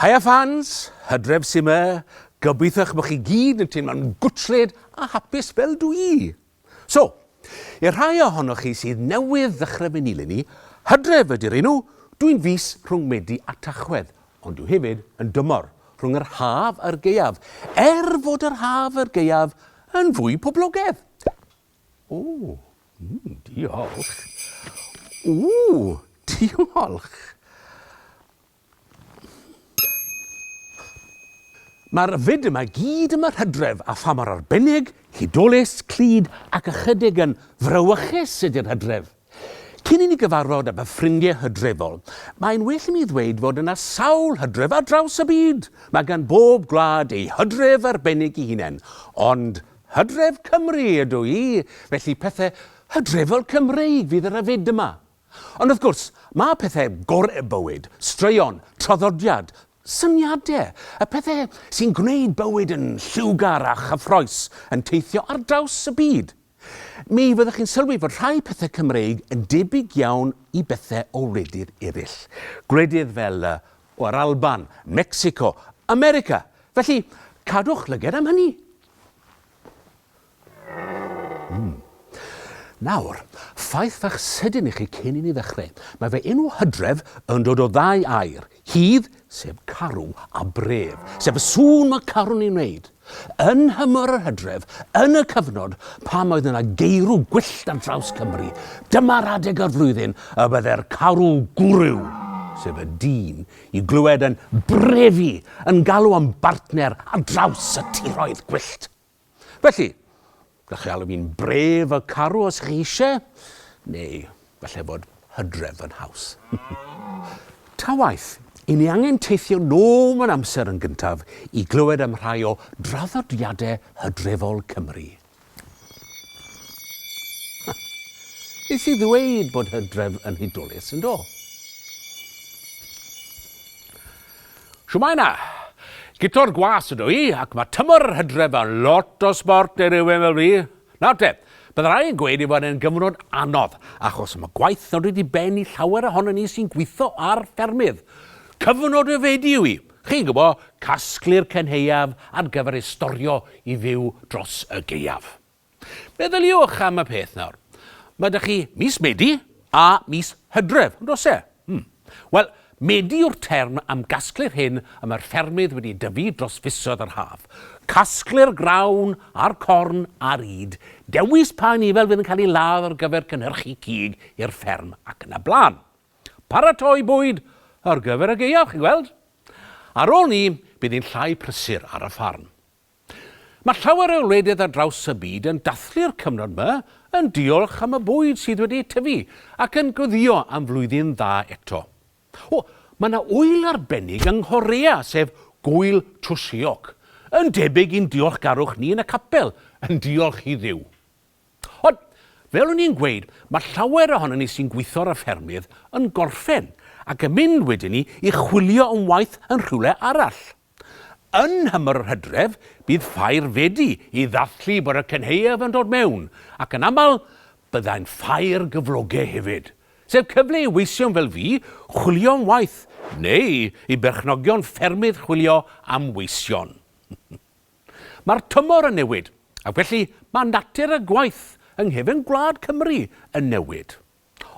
Haia fans, hydref sy'n yma, gobeithiwch bod chi gyd yn teimlo'n gwtled a hapus fel dwi. So, i'r rhai ohonoch chi sydd newydd ddechrau fy nilyn i, Hydref ydy'r enw, dw i'n fis rhwng Medi a Tachwedd, ond dw hefyd yn dymor, rhwng yr haf a'r gaeaf, er fod yr haf a'r gaeaf yn fwy poblogedd. O, mm, diolch. Ww, diolch. Mae'r fyd yma i gyd yn fy hydref, a pha mor arbennig, hudolus, clyd ac ychydig yn frawychus ydy'r hydref! Cyn i ni gyfarfod â fy ffrindiau hydrefol, mae'n well i mi ddweud fod yna sawl hydref ar draws y byd! Mae gan bob gwlad ei hydref arbennig i hunain, ond hydref Cymru ydw i, felly pethau hydrefol Cymreig fydd ar y fyd yma. Ond wrth gwrs, mae pethau gorau y bywyd, straeon, traddodiad, syniadau, y pethau sy'n gwneud bywyd yn lliwgar a chyffroes, yn teithio ar draws y byd. Mi fyddwch chi'n sylwi fod rhai pethau Cymreig yn debyg iawn i bethau o wledydd eraill. Gwledydd fel y, o, yr Alban, Mecsico, America. Felly, cadwch lyged am hynny. Mm. Nawr, ffaith fach sydyn i chi cyn i ni ddechrau. Mae fy enw Hydref yn dod o ddau air, hydd, sef carw, a bref, sef y sŵn mae carw'n ei wneud. Yn nhymor yr hydref, yn y cyfnod pan oedd yna geirw gwyllt ar draws Cymru, dyma'r adeg o'r flwyddyn y byddai'r carw gwryw, sef y dyn, i glywed yn brefu, yn galw am bartner ar draws y tiroedd gwyllt. Felly, gallwch chi alw fi'n brave a carw os chi eisiau, neu falle bod hydref yn haws. Ta waeth, i ni angen teithio nôl mewn amser yn gyntaf i glywed am rhai o draddodiadau hydrefol Cymru. Nes i ddweud bod hydref yn hudolus, yn do? Shwmae 'na! Guto'r Gwas ydw i, ac mae tymor yr Hydref yn lot o sbort i rywun fel fi. Nawr te, bydd rhai yn gweud ei fod e'n gyfnod anodd, achos mae gwaith yn dod i ben i llawer ohonon ni sy'n gweithio ar ffermydd. Cyfnod ryfedu yw hi, chi'n gwybod, casglu'r cenheuaf ar gyfer ei storio i fyw dros y gaeaf. Meddyliwch am y peth nawr. Mae 'da chi mis Medi a mis Hydref, yn does e? Hmm. Wel, Medi yw'r term am gasglu'r hyn y mae'r ffermydd wedi dyfu dros fisoedd yr haf. Casglu'r grawn a'r corn a'r ŷd, dewis pa anifail fydd yn cael ei ladd ar gyfer cynhyrchu cig i'r fferm ac yn y blaen. Paratoi bwyd ar gyfer y gaeaf, chi'n gweld? Ar ôl 'ny, bydd hi'n llai prysur ar y ffarm. Mae llawer o wledydd ar draws y byd yn dathlu'r cyfnod 'ma yn diolch am y bwyd sydd wedi tyfu ac yn gweddïo am flwyddyn dda eto. O, mae 'na ŵyl arbennig yng Nghorea, sef Gŵyl Chuseok, yn debyg i'n diolchgarwch ni yn y capel, yn diolch i Dduw. Ond, fel o'n i'n gweud, mae llawer ohonon ni sy'n gweithio ar y ffermydd yn gorffen ac yn mynd wedyn 'ny i chwilio am waith yn rhywle arall. Yn nhymor yr hydref, bydd ffair wedi i ddathlu bod y cynhaeaf yn dod mewn, ac yn aml, byddai'n ffair gyfloge hefyd. Sef cyfle i weision fel fi chwilio am waith, neu i berchnogion ffermydd chwilio am weision. Mae'r tymor yn newid, ac felly mae natur y gwaith yng nghefn gwlad Cymru yn newid.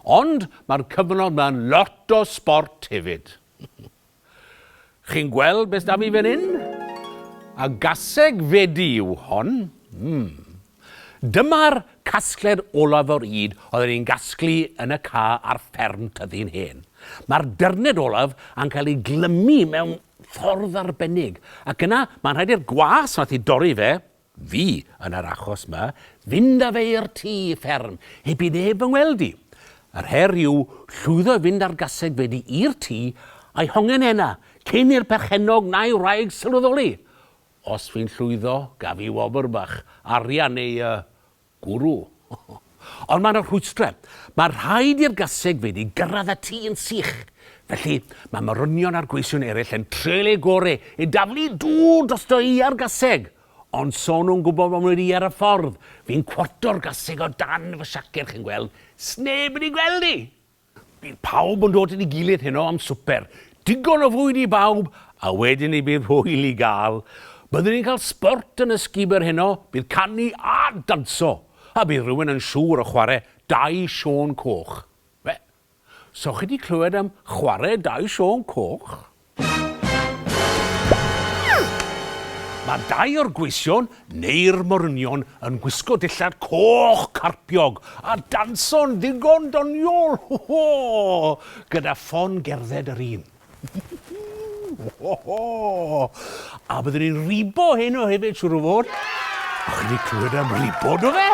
Ond mae'r cyfnod ma'n lot o sbort hefyd. Chi'n gweld beth da fi fan hyn? A gaseg fedi yw hon. Mm. Dyma'r casgled olaf o'r ŷd oedden ni'n gasglu yn y ca ar fferm tyddyn hen. Mae'r dyrned olaf yn cael ei glymu mewn ffordd arbennig, ac yna mae'n rhaid i'r gwas nath i dorri fe, fi yn yr achos 'ma, fynd â fe i'r tŷ fferm heb i neb fy ngweld i. Yr her yw llwyddo i fynd â'r gaseg fedi i'r tŷ a'i hongen ena, cyn i'r perchennog na'i wraig sylweddoli. Os fi'n llwyddo, gaf fi wobr bach, arian neu yy Gwrw. Ond mae 'na rhwystrau. Mae rhaid i'r gasegfeydd i gyrraedd y tŷ yn sych. Felly, mae morynion a'r gweision eraill yn treial eu gorau i daflu dŵr drosto iâ'r gaseg. Ond so nhw'n gwybod fod wedi iâr y ffordd, fi'n cwarto'r gaseg o dan fy siaced, chi'n gweld, 'sneb wedi gweld i! Bydd pawb yn dod at ei gilydd heno am swper. Digon o fwyd i bawb, a wedyn ni bydd hwyl i gael. Byddwn ni'n cael sbort yn y sgubor heno, bydd canu a danso, a bydd rhywun yn siŵr o chwarae Dau Siôn Coch. Be? So chi 'di clywed am chwarae Dau Siôn Coch? Mae dau o'r gweision, neu'r morynion, yn gwisgo dillad coch carpiog a danso'n ddigon doniol, ho ho! gyda ffon gerdded yr un. ho ho! A byddwn ni'n ribo heno hefyd, siwr o fod. O'ch chi wedi clywed am ribo, do fe?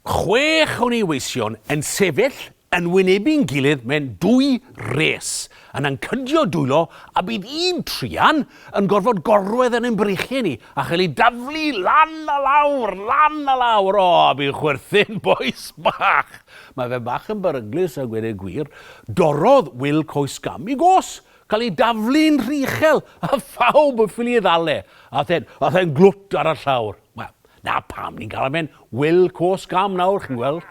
Chwech o neweision yn sefyll yn wynebu'n gilydd mewn dwy res, yn ancydio dwylo a bydd un truan yn gorfod gorwedd yn ein breichiau ni a chael ei daflu lan a lawr, lan a lawr. O, fi'n chwerthin, bois bach! Mae fe bach yn beryglus a gweud y gwir. Dorrodd Wil coes gam i gos, cael ei daflu'n rhychel a phawb yn ffili ei ddal e. Aeth e'n glwt ar y llawr. Wel, 'Na pam ni'n galw fe'n Wil Cwsg Am nawr, chi'n gweld.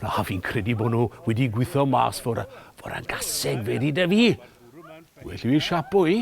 Na, fi'n credu bod nhw wedi gweithio mas fod, fod yn gaseg fe di da fi. Well fi siapo i.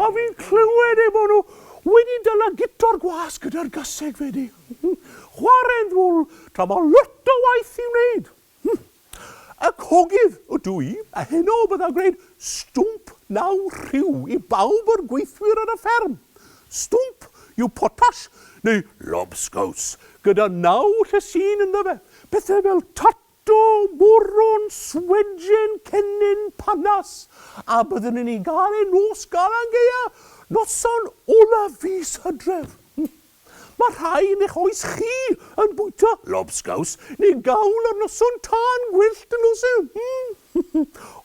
A fi'n clywed eu bod nhw wedi dyla gitor gwas gyda'r gaseg fedi. Chware'n ddwl tra mae lot o waith i'w wneud. Y cogydd ydw i, a heno bydda gwneud stwmp naw rhyw i bawb o'r gweithwyr ar y fferm. Stwmp yw potash neu lobscows gyda naw llysin ynddo fe, pethau fel tot Do, moron, swedjen, cennin, panas, a byddwn yn ei gael e nos Galan Gaeaf, noson olaf fis Hydref. Mae rhai yn eich oes chi yn bwyta lobsgaws neu gawl ar noson tân gwyllt yn nos Sul.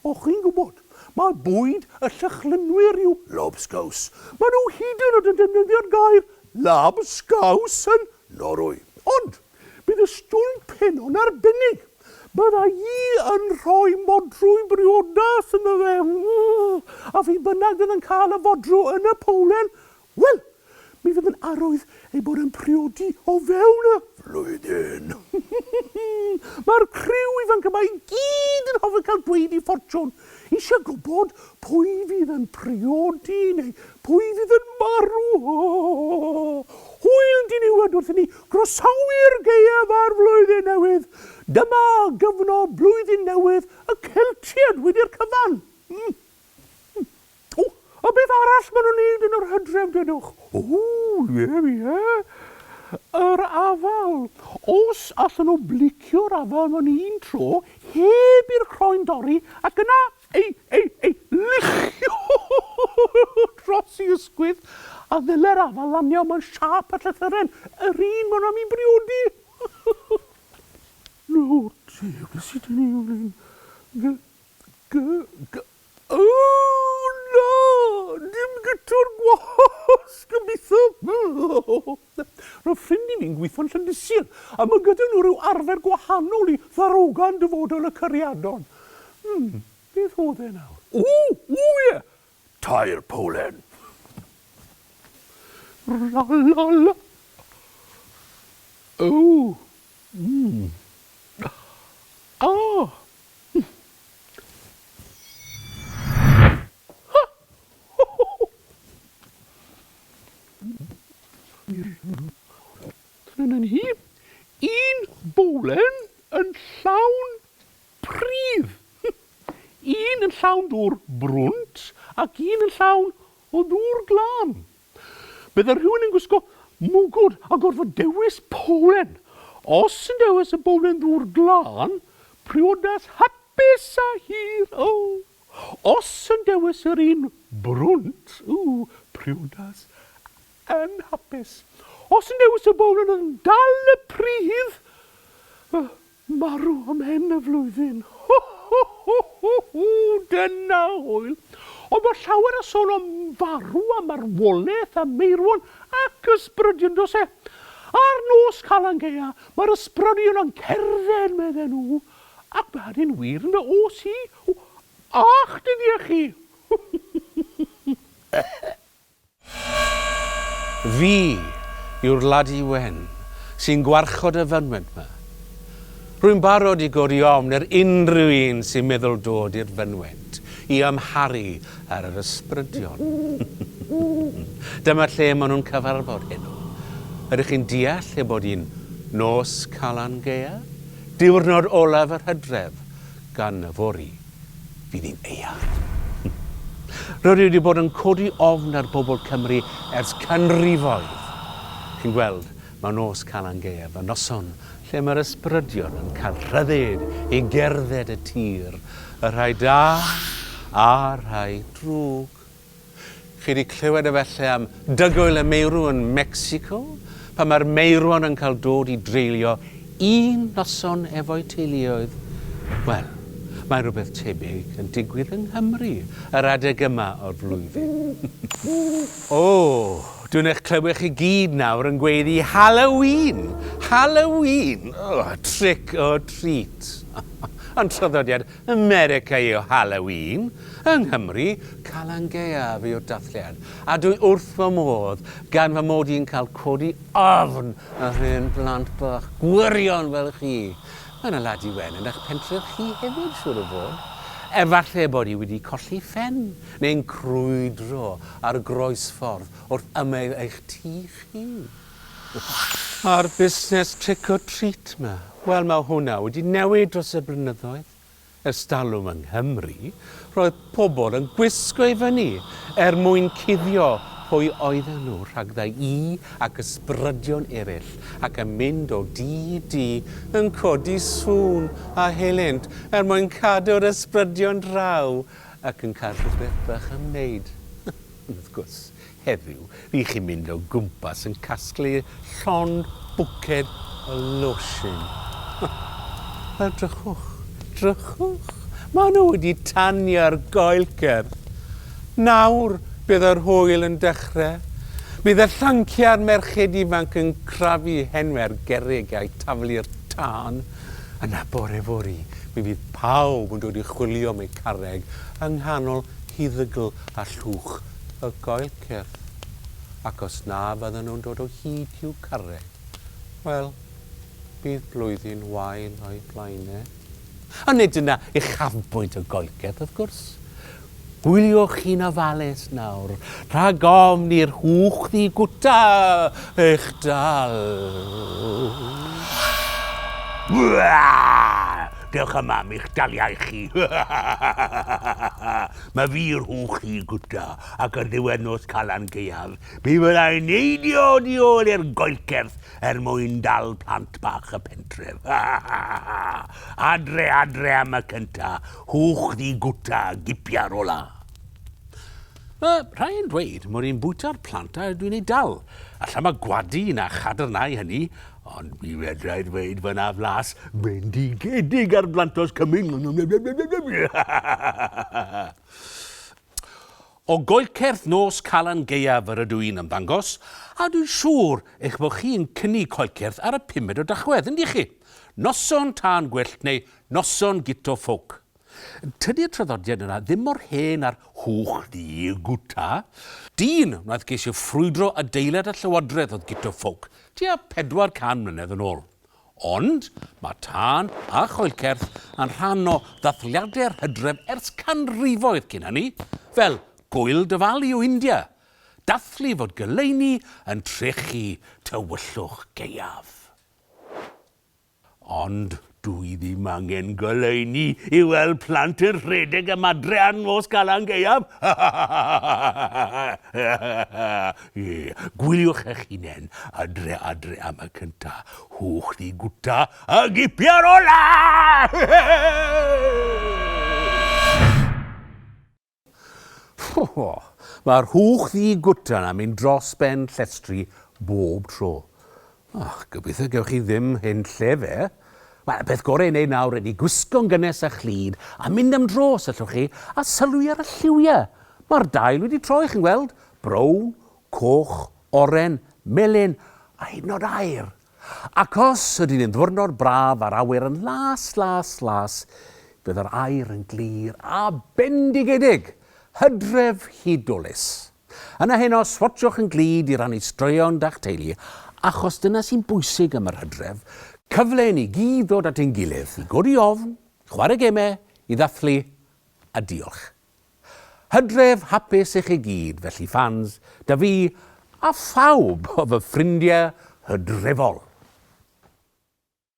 O, chi'n gwybod, mae bwyd y Llychlynwyr yw lobsgaws. Maen nhw hyd yn oed yn defnyddio'r gair 'labsgaws' yn Norwy. Ond, Bydd y stwmp hyn yn arbennig. Bydda i yn rhoi modrwy briodas ynddo fe, a phi bynnag fydd yn cael y fodrw yn y powlen, wel, mi fydd yn arwydd ei bod yn priodi o fewn y flwyddyn. Mae'r criw ifanc yma i gyd yn hoffi cael dweud eu ffortiwn, Eisiau gwybod pwy fydd yn priodi neu pwy fydd yn marw? Hwyl diniwed wrth i ni groesawu'r gaeaf a'r flwyddyn newydd. Dyma gyfnod blwyddyn newydd y Celtiaid wedi'r cyfan. O! A beth arall ma' nhw'n neud yn yr hydref dedwch? O! Ie, ie. Yr afal. Os allen nhw blicio'r afal mewn un tro, heb i'r croen dorri, ac yna ei, ei, ei luchio dros ei ysgwydd, a ddylai'r afal lanio mewn siâp y llythyren, yr un ma' nhw am 'i briodi! Nawr te, be' sy 'da ni fan hyn? Gy, gy, gy, Ooh na! Dim gitwr gwasg gobeithio! Roedd ffrind i fi'n gweithio'n Llyndisil a mae gyda nhw rhyw arfer gwahanol i ddarogan dyfodol y cariadon. Hmm, beth oedd e nawr? Ooh! Ooh ie! Tair powlen! La la la! Ooh! Mmm! Ah! Trynan hi, un bowlen yn llawn pridd, un yn llawn dŵr brwnt ac un yn llawn o ddŵr glân. Bydde rhywun yn gwisgo mwgwd a gorfod dewis bowlen. Os yn dewis y bowlen ddŵr glân, priodas hapus a hir, oh! Os yn dewis yr un brwnt, ooh, priodas anhapus. Os yn dewis y bowlen oedd yn dal y pridd, oh! Marw ym mhen y flwyddyn. Ho ho ho ho ho! Dyna hwyl! Ond bod llawer o sôn am farw a marwolaeth a meirwon ac ysbrydion does e? Ar nos Calan Gaea mae'r ysbrydion yn cerdded medden nhw ac mae hynny'n wir ynde os i w a'ch dyddiau chi! Fi yw'r ladi wen sy'n gwarchod y fynwent 'ma. Rwy'n barod i godi ofn ar unrhyw un sy'n meddwl dod i'r fynwent i amharu ar yr ysbrydion. Dyma lle maen nhw'n cyfarfod heno. Ydych chi'n deall ei bod hi'n Nos Calan Gaeaf? Diwrnod olaf yr hydref, gan yfory. fydd hi'n eang. Rydw i wedi bod yn codi ofn ar bobl Cymru ers canrifoedd. Chi'n gweld, mae nos Calan Gaeaf yn noson lle mae'r ysbrydion yn cael rhyddid i gerdded y tir, y rhai da a'r rhai drwg. Chi wedi clywed efallai am Dygwyl y Meirw yn Mecsico, pan mae'r meirwon yn cael dod i dreulio un noson efo'u teuluoedd? Wel, mae rhywbeth tebyg yn digwydd yng Nghymru yr adeg yma o'r flwyddyn. O! Dwi'n eich clywed chi gyd nawr yn gweiddi 'Halloween! Halloween! O, trick or treat! Ond traddodiad America yw Halloween, yng Nghymru, Calan Gaeaf yw'r dathliad, a dwi wrth fy modd gan fy mod i'n cael codi ofn ar hen blant bach gwirion fel chi. Mae 'na Ladi Wen yn eich pentref chi hefyd, siŵr o fod. Efallai bod hi wedi colli phen, neu'n crwydro ar groesffordd wrth ymyl eich tŷ chi. A'r busnes trick or treat 'ma? Wel, mae hwnna wedi newid dros y blynyddoedd. Ers talwm yng Nghymru, roedd pobl yn gwisgo i fyny er mwyn cuddio pwy oedden nhw rhagddai i ac ysbrydion eraill ac yn mynd o dŷ i dŷ yn codi sŵn a helynt er mwyn cadw'r ysbrydion draw ac yn cael rhywbeth bach am wneud. Ond wrth gwrs, Heddiw, rych chi'n mynd o gwmpas yn casglu llond bwced o losin. Wel, drychwch, drychwch. Maen nhw wedi tanio'r goelcer. Nawr, bydd yr hwyl yn dechrau. Bydd y llanciau a'r merched ifanc yn crafu hen fer gerrig a'u taflu'r tân. Yna, bore fory, mi fydd pawb yn dod i chwilio am eu carreg yng nghanol huddygl a llwch y coel cyrff, ac os na fyddan nhw'n dod o hyd i'w carreg, wel, bydd blwyddyn wael o'u blaen e. Ond nid yna uchafbwynt y goel cyrff, wrth gwrs. Gwyliwch chi'n ofalus nawr, rhag ofn i'r hwch ddigwta eich dal. Dewch yma am eich daliau chi. Mae fi rhwng chi gwta ac ar ddiwedd nos Calan Gaeaf, mi fydda i'n neidio oddi ôl i'r goelcerth er mwyn dal plant bach y pentref. Adre, adre am y cynta, hwch ddi gwta, gipia'r ola. Mae rhai yn dweud mod i'n bwyta'r plant a dwi'n eu dal. Alla mae gwadu na chadarnhau hynny, Ond mi fedrai ddweud fy na flas bendigedig ar blantos cymyn. O goelcerth nos Calan Gaeaf yr ydw i'n ymddangos, a dwi'n siŵr eich bod chi'n cynnig coelcerth ar y pumed o Dachwedd, yndych chi? Noson tân gwyllt neu noson guto ffowc. Tydi'r traddodiad yna ddim mor hen â'r hwch ddu gwta. Dyn wnaeth geisio ffrwydro adeilad y llywodraeth oedd Guto Ffowc tua 400 mlynedd yn ôl. Ond mae tân a choelcerth yn rhan o ddathliadau'r hydref ers canrifoedd cyn hynny, fel Gŵyl Diwali o India, dathlu fod goleuni yn trechu tywyllwch gaeaf. Ond dw i ddim angen goleuni i weld plant yn rhedeg am adre ar nos Calan Gaeaf! Gwyliwch eich hunain adre adre am y cynta, hwch ddi gwta a gipia'r ola! Rho! Mae'r hwch ddi gwtan am mynd dros ben llestri bob tro. Och, gobeithio gewch chi ddim hen lle fe. Wel, y peth gorau i wneud nawr ydy gwisgo'n gynnes a chlyd a mynd am dro os allwch chi, a sylwi ar y lliwiau. Mae'r dail wedi troi, chi'n gweld, brown, coch, oren, melyn a hyd yn oed aur. Ac os ydy'n un ddwrnod braf a'r awyr yn las, las, las, bydd yr aer yn glir a bendigedig, hydref hudolus. Yna heno, swatshwch yn glyd i rannu straeon da'ch teulu, achos dyna sy'n bwysig am yr hydref, cyfle i ni gyd ddod at ein gilydd, i godi ofn, i chwarae gemau, i ddathlu a diolch. Hydref hapus i chi gyd felly fans da fi a phawb o fy ffrindiau hydrefol!